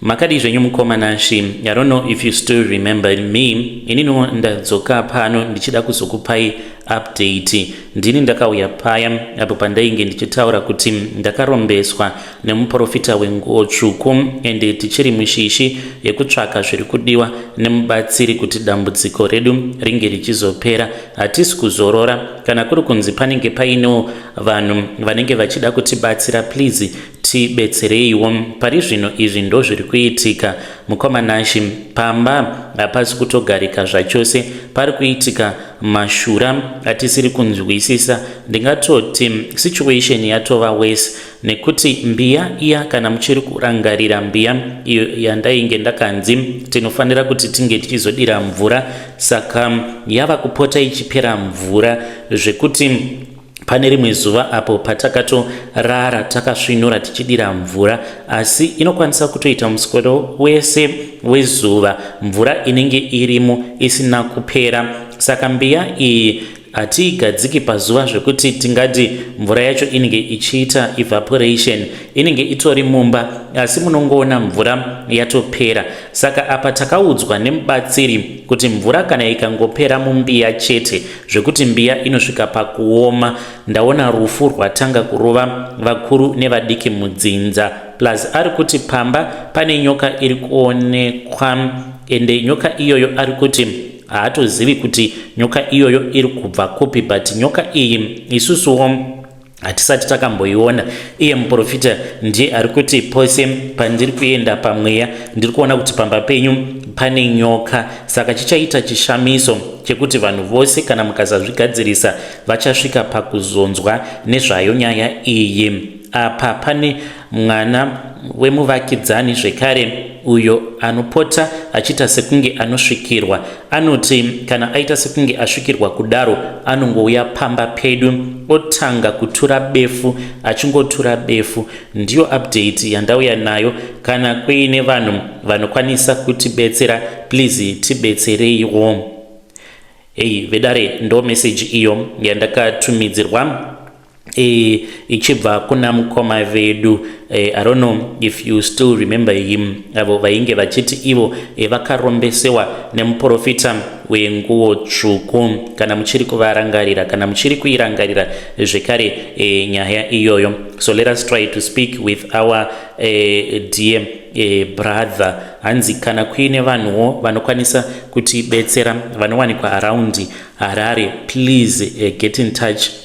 Makadii zvenyu mukoma Nashy? I don't know if you still remember me. Ininiwo ndadzoka pano ndichida kuzokupai update. Ndini ndakauya paya apo pandainge ndichitaura kuti ndakarombeswa nemuporofita wenguo tsvuku and tichiri mushishi yekutsvaka zviri kudiwa nemubatsiri kuti dambudziko redu ringe richizopera. Hatisi kuzorora kana kuri kunzi panenge painewo vanhu vanenge vachida kutibatsira please Tibetsereiwo, pari zvino izvi ndozviri kuitika. Mukoma Nashy, pamba hapasi kutogarika zvachose, pari kuitika mashura atisiri kunzwisisa. Ndingatoti situation yatova worse nekuti mbiya iya, kana muchiri kurangarira mbiya iyo yandainge ndakanzi tinofanira kuti tinge tichizodira mvura, saka yava kupota ichipera mvura zvekuti Pane rimwe zuva apo patakatorara takasvinura tichidira mvura, asi inokwanisa kutoita muswero wese wezuva mvura inenge irimo isina kupera. Saka mbiya iyi hatiigadziki pazuva zvekuti tingati mvura yacho inenge ichiita evaporation inenge itori mumba asi munongoona mvura yatopera saka apa takaudzwa nemubatsiri kuti mvura kana ikangopera mumbiya chete zvekuti mbiya inosvika pakuoma ndaona rufu rwatanga kurova vakuru nevadiki mudzinza plus ari kuti pamba pane nyoka iri kuonekwa ende nyoka iyoyo ari kuti haatozivi kuti nyoka iyoyo iri kubva kupi but nyoka iyi isusuwo hatisati takamboiona iye muprofita ndiye ari kuti pose pandiri kuenda pamweya ndiri kuona kuti pamba penyu pane nyoka saka chichaita chishamiso chekuti vanhu vose kana mukasazvigadzirisa vachasvika pakuzonzwa nezvayo nyaya iyi apa pane mwana wemuvakidzani zvekare uyo anopota achiita sekunge anosvikirwa anoti kana aita sekunge asvikirwa kudaro anongouya pamba pedu otanga kutura befu achingotura befu ndiyo update yandauya nayo kana kuine vanhu vanokwanisa kutibetsera please tibetsereiwo hei vedare ndo meseji iyo yandakatumidzirwa e, ichibva kuna mukoma vedu e, i don't know if you still remember him avo vainge vachiti ivo e, vakarombesewa nemuprofita wenguo tsvuku kana muchiri kuvarangarira kana muchiri kuirangarira zvekare e, nyaya iyoyo so let us try to speak with our e, dear e, brother hanzi kana kuine vanhuwo vanokwanisa kutibetsera vanowanikwa around harare please e, get in touch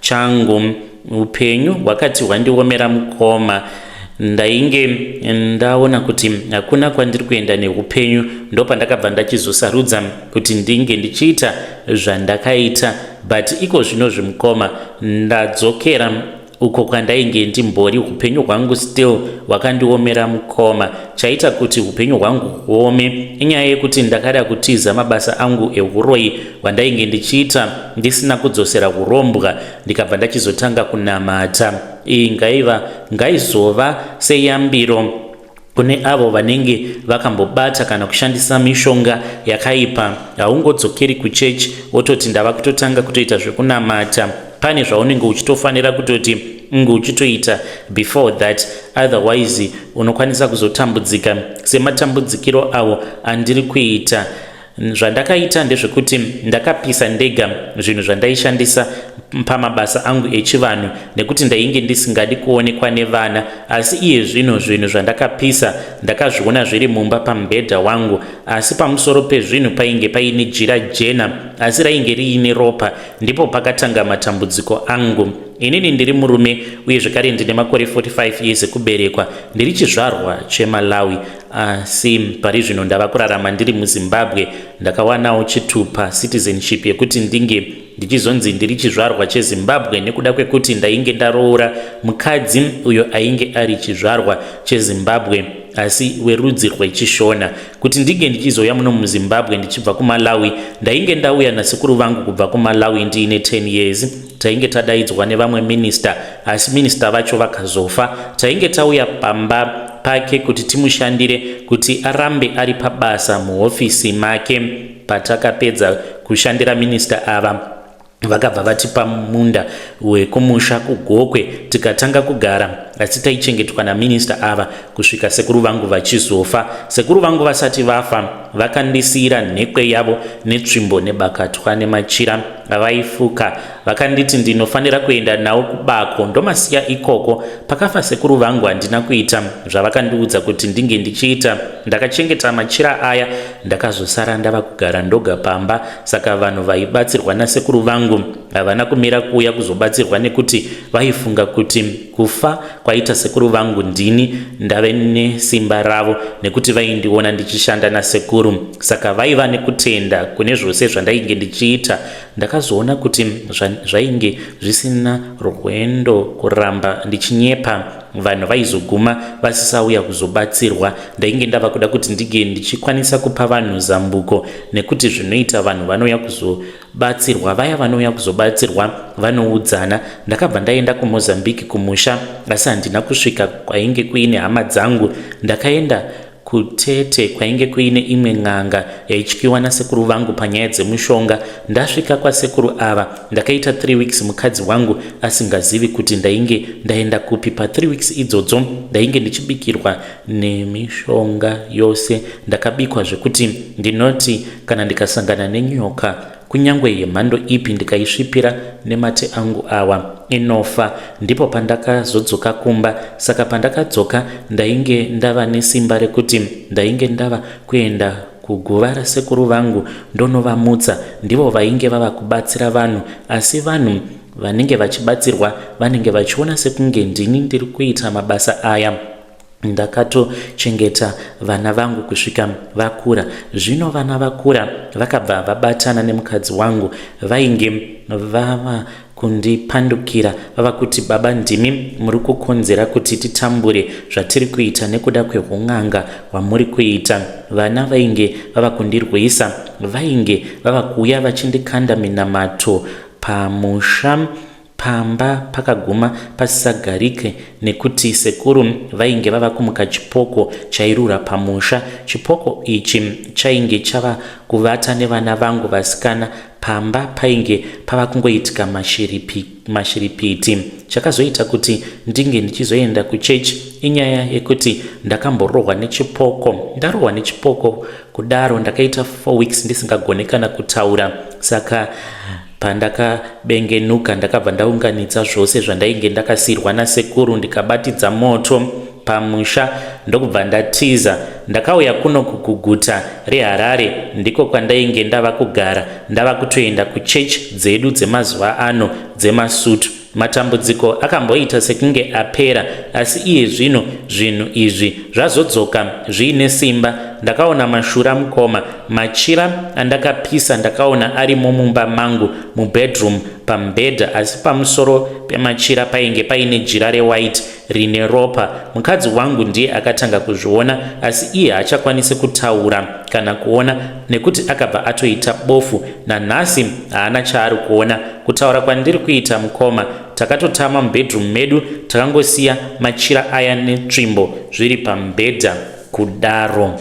changu upenyu hwakati hwandiomera mukoma ndainge ndaona kuti hakuna kwandiri kuenda neupenyu ndopandakabva ndachizosarudza kuti ndinge ndichiita zvandakaita but iko zvino zvimukoma ndadzokera uko kwandainge ndimbori upenyu hwangu still hwakandiomera mukoma chaita kuti upenyu hwangu huome inyaya yekuti ndakada kutiza mabasa angu euroyi hwandainge ndichiita ndisina kudzosera urombwa ndikabva ndachizotanga kunamata iyi ngaiva ngaizova seyambiro kune avo vanenge vakambobata kana kushandisa mishonga yakaipa haungodzokeri kuchechi wototi ndava kutotanga kutoita zvekunamata pane zvaunenge uchitofanira kutoti unge uchitoita before that otherwise unokwanisa kuzotambudzika sematambudzikiro avo andiri kuita Zvandakaita ndezvekuti ndakapisa ndega zvinhu zvandaishandisa pamabasa angu echivanhu nekuti ndainge ndisingadi kuonekwa nevana asi iye zvino zvinhu zvandakapisa ndakazviona zviri mumba pamubhedha wangu asi pamusoro pezvinhu painge paine jira jena asi rainge riine ropa ndipo pakatanga matambudziko angu inini ndiri murume uye zvekare ndine makore 45 years ekuberekwa ndiri chizvarwa chemalawi Asi ah, pari zvino ndava kurarama ndiri muZimbabwe. Ndakawanawo chitupa, citizenship, yekuti ndinge ndichizonzi ndiri chizvarwa cheZimbabwe nekuda kwekuti ndainge ndaroora mukadzi uyo ainge ari chizvarwa cheZimbabwe asi werudzi rwechishona kuti ndinge ndichizouya muno muzimbabwe ndichibva kumalawi ndainge ndauya nasekuru vangu kubva kumalawi ndiine 10 years Tainge tadaidzwa nevamwe minister asi minister vacho vakazofa. Tainge tauya pamba pake kuti timushandire kuti arambe ari pabasa muhofisi make. Patakapedza kushandira minister ava vakabva vatipa munda wekumusha kugokwe tikatanga kugara asi taichengetwa naminista ava kusvika sekuru vangu vachizofa sekuru vangu vasati vafa vakandisiyira nhekwe yavo netsvimbo nebakatwa nemachira vaifuka vakanditi ndinofanira kuenda nawo kubako ndomasiya ikoko pakafa sekuru vangu handina kuita zvavakandiudza kuti ndinge ndichiita ndakachengeta machira aya ndakazosara ndava kugara ndoga pamba saka vanhu vaibatsirwa nasekuru vangu havana kumira kuuya kuzobatsirwa nekuti vaifunga kuti Kufa kwaita sekuru vangu ndini ndave nesimba ravo nekuti vaindiona ndichishanda nasekuru saka vaiva nekutenda kune zvose zvandainge ndichiita. Ndakazoona kuti zvainge zvisina rwendo kuramba ndichinyepa vanhu vaizoguma vasisauya kuzobatsirwa. Ndainge ndava kuda kuti ndinge ndichikwanisa kupa vanhu zambuko nekuti zvinoita vanhu vanouya kuzo batsirwa vaya vanouya kuzobatsirwa vanoudzana ndakabva ndaenda kumozambique kumusha asi handina kusvika kwainge kuine hama dzangu ndakaenda kutete kwainge kuine imwe n'anga yaityiwa nasekuru vangu panyaya dzemushonga ndasvika kwasekuru ava ndakaita 3 weeks mukadzi wangu asingazivi kuti ndainge ndaenda kupi pa3 weeks idzodzo ndainge ndichibikirwa nemishonga yose ndakabikwa zvekuti ndinoti kana ndikasangana nenyoka kunyange yemhando ipi ndikaisvipira nemate angu awa inofa ndipo pandakazodzoka kumba saka pandakadzoka ndainge ndava nesimba rekuti ndainge ndava kuenda kuguva rasekuru vangu ndonovamutsa ndivo vainge vava kubatsira vanhu asi vanhu vanenge vachibatsirwa vanenge vachiona sekunge ndini ndiri kuita mabasa aya ndakatochengeta vana vangu kusvika vakura zvino vana vakura vakabva vabatana nemukadzi wangu vainge vava kundipandukira vava kuti baba ndimi muri kukonzera kuti titambure zvatiri kuita nekuda kweun'anga hwamuri kuita vana vainge vava kundirwisa vainge vava kuuya vachindikanda minamato pamusha Pamba pakaguma pasisagarike nekuti sekuru vainge vava kumuka chipoko chairura pamusha. Chipoko ichi chainge chava kuvata nevana vangu vasikana pamba painge pava kungoitika mashiripi, mashiripiti. Chakazoita kuti ndinge ndichizoenda kuchechi inyaya yekuti ndakamborohwa nechipoko. Ndarohwa nechipoko kudaro ndakaita four weeks ndisingagone kana kutaura saka Pandakabengenuka ndakabva ndaunganidza zvose zvandainge ndakasirwa nasekuru ndikabatidza moto pamusha ndokubva ndatiza ndakauya kuno kuguguta reharare ndiko kwandainge ndava kugara ndava kutoenda kuchechi dzedu dzemazuva ano dzemasutu Matambudziko akamboita sekunge apera, asi iye zvino zvinhu izvi zvazodzoka zviine simba. Ndakaona mashura mukoma, machira andakapisa ndakaona arimo mumba mangu mubedroom pamubhedha asi pamusoro pemachira painge paine jira rewhite rine ropa. Mukadzi wangu ndiye akatanga kuzviona, asi iye haachakwanisi kutaura kana kuona nekuti akabva atoita bofu. Nanhasi haana chaari kuona. Kutaura kwandiri kuita mukoma, takatotama mubedroom medu, takangosiya machira aya netsvimbo zviri pamubhedha kudaro.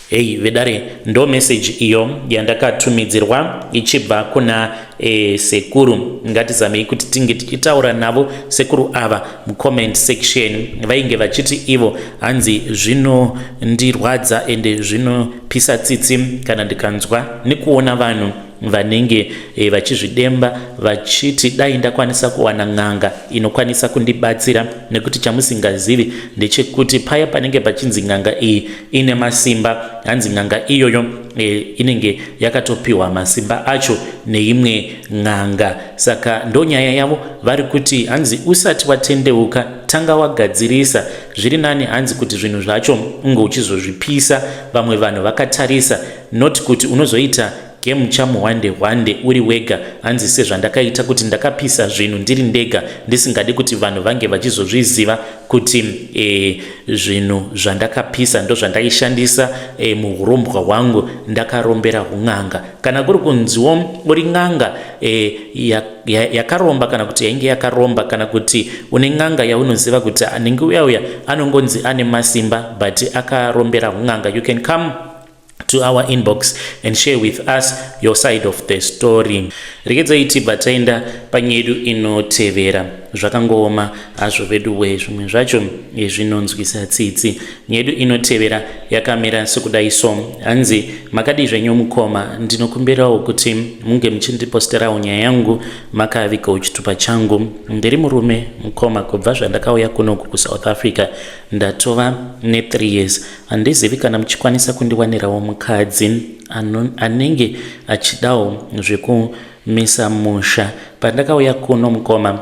Hey vedare ndo message iyo yandakatumidzirwa ichibva kuna e, sekuru ngatizamei kuti tinge tichitaura navo sekuru ava mucomment section vainge vachiti ivo hanzi zvinondirwadza ende zvinopisa tsitsi kana ndikanzwa nekuona vanhu vanenge e, vachizvidemba vachiti dai ndakwanisa kuwana n'anga inokwanisa kundibatsira nekuti chamusingazivi ndechekuti paya panenge pachinzi n'anga iyi ine masimba hanzi n'anga iyoyo e, inenge yakatopiwa masimba acho neimwe n'anga saka ndonyaya yavo vari kuti hanzi usati watendeuka tanga wagadzirisa zviri nani hanzi kuti zvinhu zvacho unge uchizozvipisa vamwe vanhu vakatarisa not kuti unozoita game chamuhwande hwande uri wega hanzi sezvandakaita kuti ndakapisa zvinhu ndiri ndega ndisingadi kuti vanhu vange vachizozviziva kuti e, zvinhu zvandakapisa ndozvandaishandisa e, muhurombwa hwangu ndakarombera hun'anga kana kuri kunziwo uri n'anga e, yakaromba ya, ya kana kuti yainge yakaromba kana kuti une n'anga yaunoziva kuti anenge uya uya anongonzi ane masimba but akarombera hun'anga you can come to our inbox and share with us your side of the story rekedzai tibva taenda panyedu inotevera zvakangooma hazvo veduwe zvimwe zvacho zvinonzwisa tsitsi nyedu inotevera yakamira sekudai so hanzi makadii zvenyu mukoma ndinokumbirawo kuti munge muchindiposterawo nyaya yangu makavikawo chitupa changu ndiri murume mukoma kubva zvandakauya kunoku kusouth africa ndatova ne3 years Handizivi kana muchikwanisa kundiwanirawo mukadzi anenge achidawo zvekumisa musha. Pandakauya kuno mukoma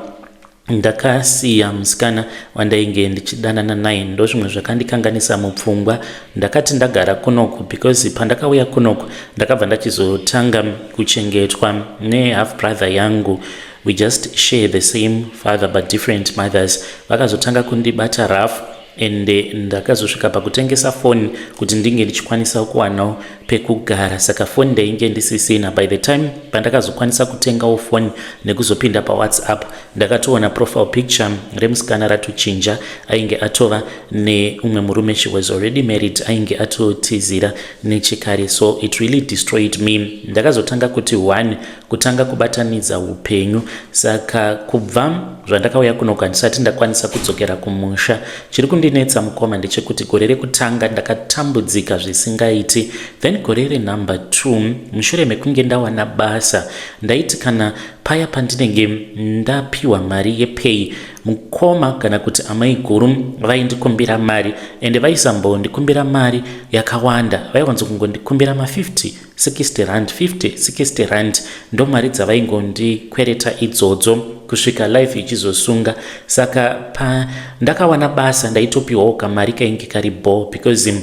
ndakasiya musikana wandainge ndichidanana naye ndozvimwe zvakandikanganisa mupfungwa ndakati ndagara kunoku because pandakauya kunoku ndakabva ndachizotanga kuchengetwa nehalf brother yangu we just share the same father but different mothers vakazotanga kundibata rafu and ndakazosvika pakutengesa foni kuti ndinge ndichikwanisa kuwanawo pekugara saka foni ndainge ndisisina by the time pandakazokwanisa kutengawo foni nekuzopinda pawhatsapp ndakatoona profile picture remusikana ratochinja ainge atova neumwe murume she was already married ainge atotizira nechekare so it really destroyed me ndakazotanga kuti one kutanga kubatanidza upenyu saka kubva zvandakauya kuno kandisati ndakwanisa kudzokera kumusha chiri kundinetsa mukoma ndechekuti gore rekutanga ndakatambudzika zvisingaiti then gore renumber 2 mushure mekunge ndawana basa ndaiti kana paya pandinenge ndapiwa mari yepay mukoma kana kuti amai guru vaindikumbira mari ende vaisambondikumbira mari yakawanda vaiwanzo kungondikumbira ma 50 60 rand 50 60 rand ndo mari dzavaingondikwereta idzodzo kusvika life ichizosunga saka pa ndakawana basa ndaitopiwawo kamari kainge kari bho because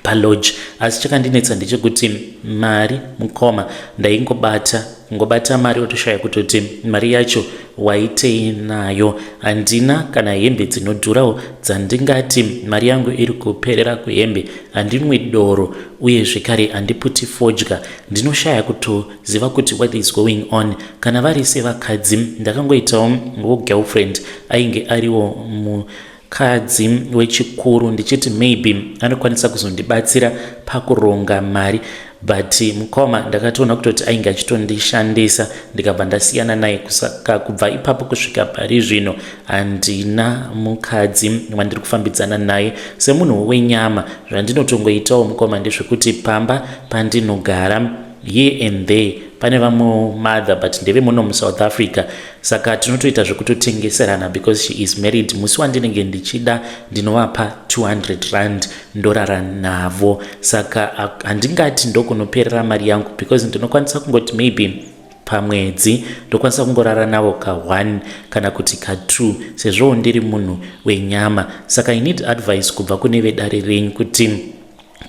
palodge asi chakandinetsa ndechekuti mari mukoma ndaingobata ngobata mari otoshaya kutoti mari yacho waitei nayo handina kana hembe dzinodhurawo dzandingati mari yangu iri kuperera kuhembe handinwi doro uye zvekare handiputi fodya ndinoshaya kutoziva kuti what is going on kana vari sevakadzi ndakangoitawo wo girlfriend ainge ariwo mu mukadzi wechikuru ndichiti maybe anokwanisa kuzondibatsira pakuronga mari but mukoma ndakatoona kutoti ainge achitondishandisa ndikabva ndasiyana naye kusaka kubva ipapo kusvika pari zvino handina mukadzi wandiri kufambidzana naye semunhu wenyama zvandinotongoitawo mukoma ndezvekuti pamba pandinogara here and there pane vamwe mother but ndeve muno musouth africa saka tinotoita zvekutotengeserana because she is married musi wandinenge ndichida ndinovapa 200 rand ndorara navo saka handingati ndokunoperera mari yangu because ndinokwanisa kungoti maybe pamwedzi ndokwanisa kungorara navo ka1 kana kuti ka2 sezvowo ndiri munhu wenyama saka i need advice kubva kune vedare renyu kuti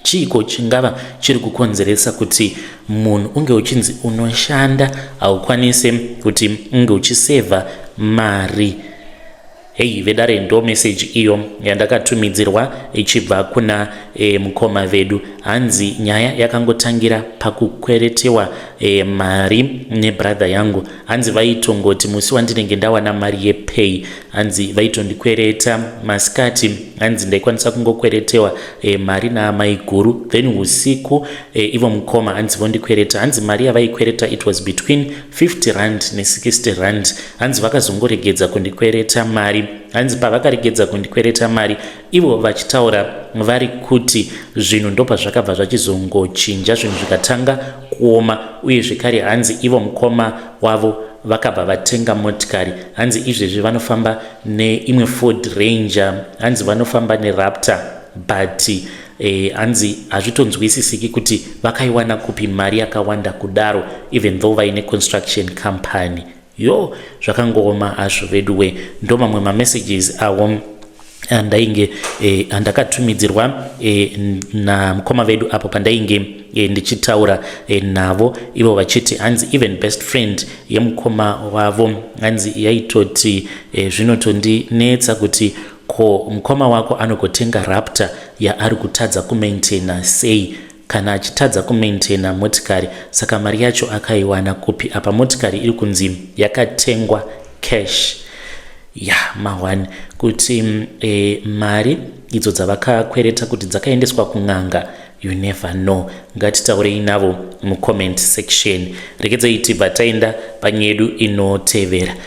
chiiko chingava chiri kukonzeresa kuti munhu unge uchinzi unoshanda haukwanise kuti unge uchisevha mari heyi vedare ndo meseji iyo yandakatumidzirwa ichibva kuna e, mukoma vedu hanzi nyaya yakangotangira pakukweretewa e, mari nebradha yangu hanzi vaitongoti musi wandinenge ndawana mari yepay hanzi vaitondikwereta masikati hanzi ndaikwanisa kungokweretewa e, mari naamai guru then usiku e, ivo mukoma hanzi vondikwereta hanzi mari yavaikwereta it was between 50 rand ne60 rand hanzi vakazongoregedza kundikwereta mari hanzi pavakaregedza kundikwereta mari ivo vachitaura vari kuti zvinhu ndopazvakabva zvachizongochinja zvinhu zvikatanga kuoma uye zvekare hanzi ivo mukoma wavo vakabva vatenga motikari hanzi izvezvi vanofamba neimwe ford ranger hanzi vanofamba neraptor but eh, hanzi eh, hazvitonzwisisiki kuti vakaiwana kupi mari yakawanda kudaro even though vaine construction company Yoo zvakangooma hazvo veduwe ndomamwe mamessages awo andainge eh, andakatumidzirwa eh, namukoma vedu apo pandainge eh, ndichitaura eh, navo ivo vachiti hanzi even best friend yemukoma wavo hanzi yaitoti eh, zvinotondinetsa kuti ko mukoma wako anogotenga raptor yaari kutadza kumaintaina sei kana achitadza kumaintainer motikari saka mari yacho akaiwana kupi apa motikari iri kunzi yakatengwa cash ya mahwani kuti mm, e, mari idzo dzavakakwereta kuti dzakaendeswa kun'anga you never know ngatitaurei navo mucomment section rekedzai tibva taenda panyedu inotevera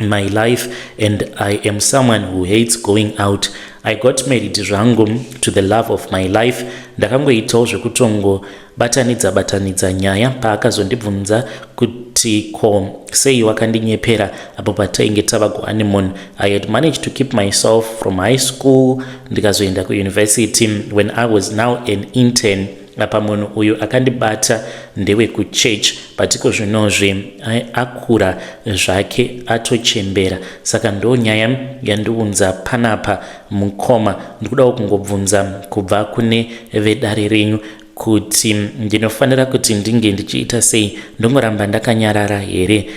in my life and I am someone who hates going out. I got married zvangu to the love of my life. Ndakangoitawo zvekutongo batanidza batanidza nyaya paakazondibvunza kuti ko sei wakandinyepera apo patainge tava kuhoneymoon. I had managed to keep myself from high school ndikazoenda kuuniversity when I was now an intern. apa munhu uyu akandibata ndewekuchurch but iko zvinozvi akura zvake atochembera saka ndo nyaya yandiunza panapa mukoma ndikudawo kungobvunza kubva kune vedare renyu kuti ndinofanira kuti ndinge ndichiita sei ndongoramba ndakanyarara here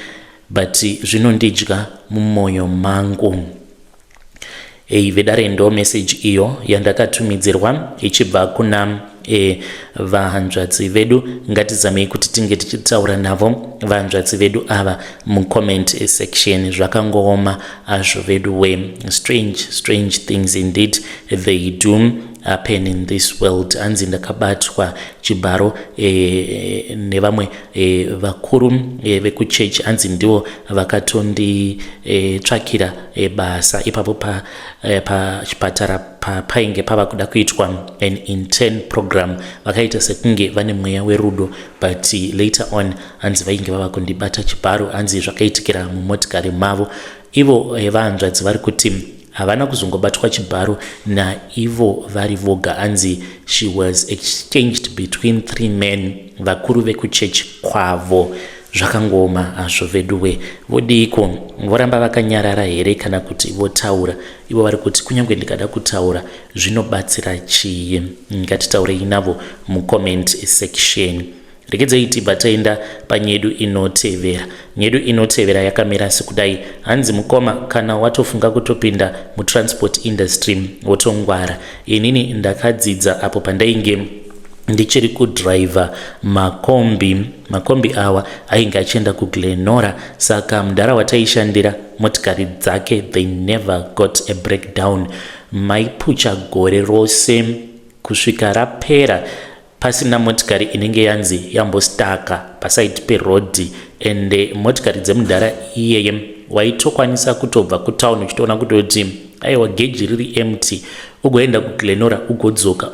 but zvinondidya mumoyo mangu Hey, vedare ndo message iyo yandakatumidzirwa ichibva kuna e, vahanzvadzi vedu ngatizamei kuti tinge tichitaura navo vahanzvadzi vedu ava mucomment section zvakangooma azvo vedu we strange strange things indeed they do happen in this world hanzi ndakabatwa chibharo e, nevamwe e, vakuru e, vekuchechi hanzi ndivo vakatonditsvakira e, ebasa ipapo eh, pachipatara pa, painge pava kuda kuitwa an intern program vakaita sekunge vane mweya werudo but later on hanzi vainge vava kundibata chibharo hanzi zvakaitikira mumotikari mavo ivo eh, vahanzvadzi vari kuti havana kuzongobatwa chibharo naivo vari voga hanzi she was exchanged between three men vakuru vekuchechi kwavo Zvakangooma hazvo veduwe. Vodiiko? Voramba vakanyarara here kana kuti votaura? Ivo vari kuti kunyange ndikada kutaura zvinobatsira chii? Ngatitaurei navo mucomment section. Regedzei tibva taenda panyedu inotevera. Nyedu inotevera yakamira sekudai. Hanzi mukoma kana watofunga kutopinda mutransport industry wotongwara. Inini ndakadzidza apo pandainge ndichiri kudriver makombi Makombi awa ainge achienda kuGlenora saka mudhara wataishandira motikari dzake they never got a breakdown. Maipucha gore rose kusvika rapera pasina motikari inenge yanzi yambostaka pasaidi perodhi ende motikari dzemudhara iyeye waitokwanisa kutobva kutown uchitoona kutoti aiwa geji riri empty ugoenda kuglenora ugodzoka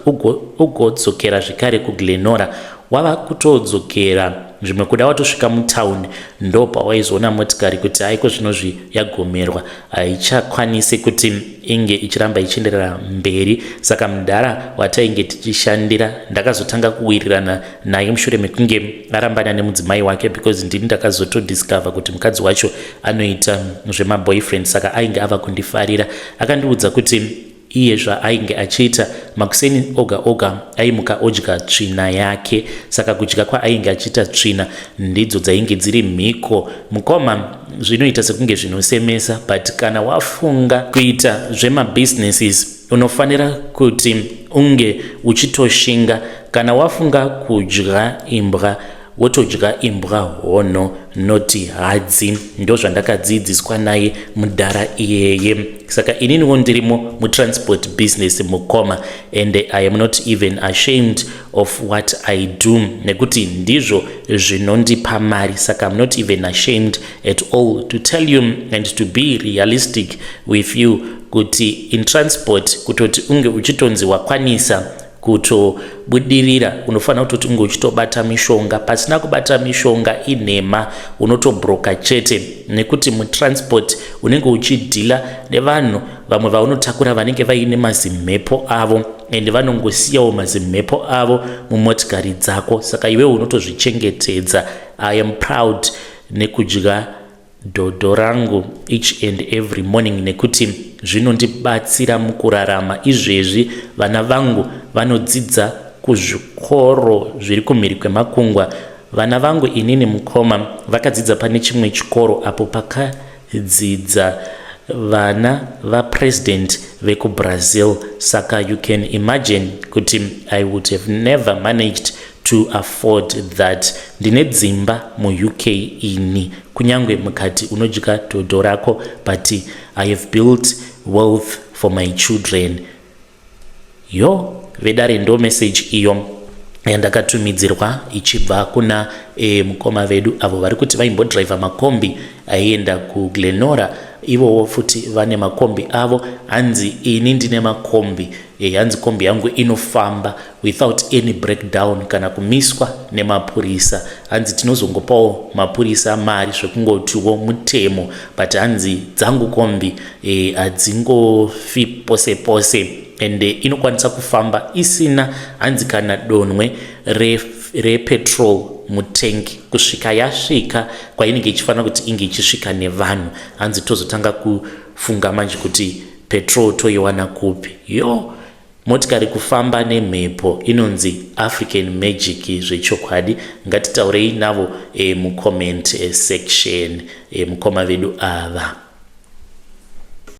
ugodzokera ugo zvekare kuglenora wava kutodzokera zvimwe kuda watosvika mutown ndo pawaizoona motikari kuti haiko zvinozvi yagomerwa haichakwanisi kuti inge ichiramba ichienderera mberi saka mudhara watainge tichishandira ndakazotanga kuwirirana naye mushure mekunge arambana nemudzimai wake because ndini ndakazotodiscover kuti mukadzi wacho anoita zvemaboyfriend saka ainge ava kundifarira Akandiudza kuti iye zvaainge achiita makuseni oga oga aimuka odya tsvina yake saka kudya kwaainge achiita tsvina ndidzo dzainge dziri mhiko mukoma zvinoita sekunge zvinosemesa but kana wafunga kuita zvemabusinesses unofanira kuti unge uchitoshinga kana wafunga kudya imbwa wotodya imbwa hono noti hadzi ndozvandakadziidziswa naye mudhara iyeye saka ininiwo ndirimo mutransport business mukoma and i am not even ashamed of what i do nekuti ndizvo zvinondipa mari saka im not even ashamed at all to tell you and to be realistic with you kuti in transport kutoti unge uchitonzi wakwanisa kutobudirira unofanira kutoti unge uchitobata mishonga pasina kubata mishonga inhema unotobroka chete nekuti mutransport unenge uchidhila nevanhu vamwe vaunotakura vanenge vaine mazimhepo avo ende vanongosiyawo mazimhepo avo mumotikari dzako saka iwewo unotozvichengetedza i am proud nekudya dhodho rangu each and every morning nekuti zvinondibatsira mukurarama izvezvi vana vangu vanodzidza kuzvikoro zviri kumhiri kwemakungwa vana vangu inini mukoma vakadzidza pane chimwe chikoro apo pakadzidza vana vapresident vekubrazil saka you can imagine kuti i would have never managed to afford that ndine dzimba muuk ini kunyange mukati unodya dhodho rako but i have built wealth for my children yo vedare ndo message iyo yandakatumidzirwa ichibva kuna e, mukoma vedu avo vari kuti vaimbodriver makombi aienda kuglenora ivowo futi vane makombi avo hanzi ini ndine makombi e, hanzi kombi yangu inofamba without any breakdown kana kumiswa nemapurisa hanzi tinozongopawo mapurisa mari zvekungotiwo mutemo but hanzi dzangu kombi eh, hadzingofi e, pose pose ende eh, inokwanisa kufamba isina hanzi kana donwe repetrol re mutengi kusvika yasvika kwainenge ichifanira kuti inge ichisvika nevanhu hanzi tozotanga kufunga manje kuti petrol toiwana kupi yoo Motikari kufamba nemhepo inonzi African magic zvechokwadi ngatitaurei navo e, mucomment e, section e, mukoma vedu ava.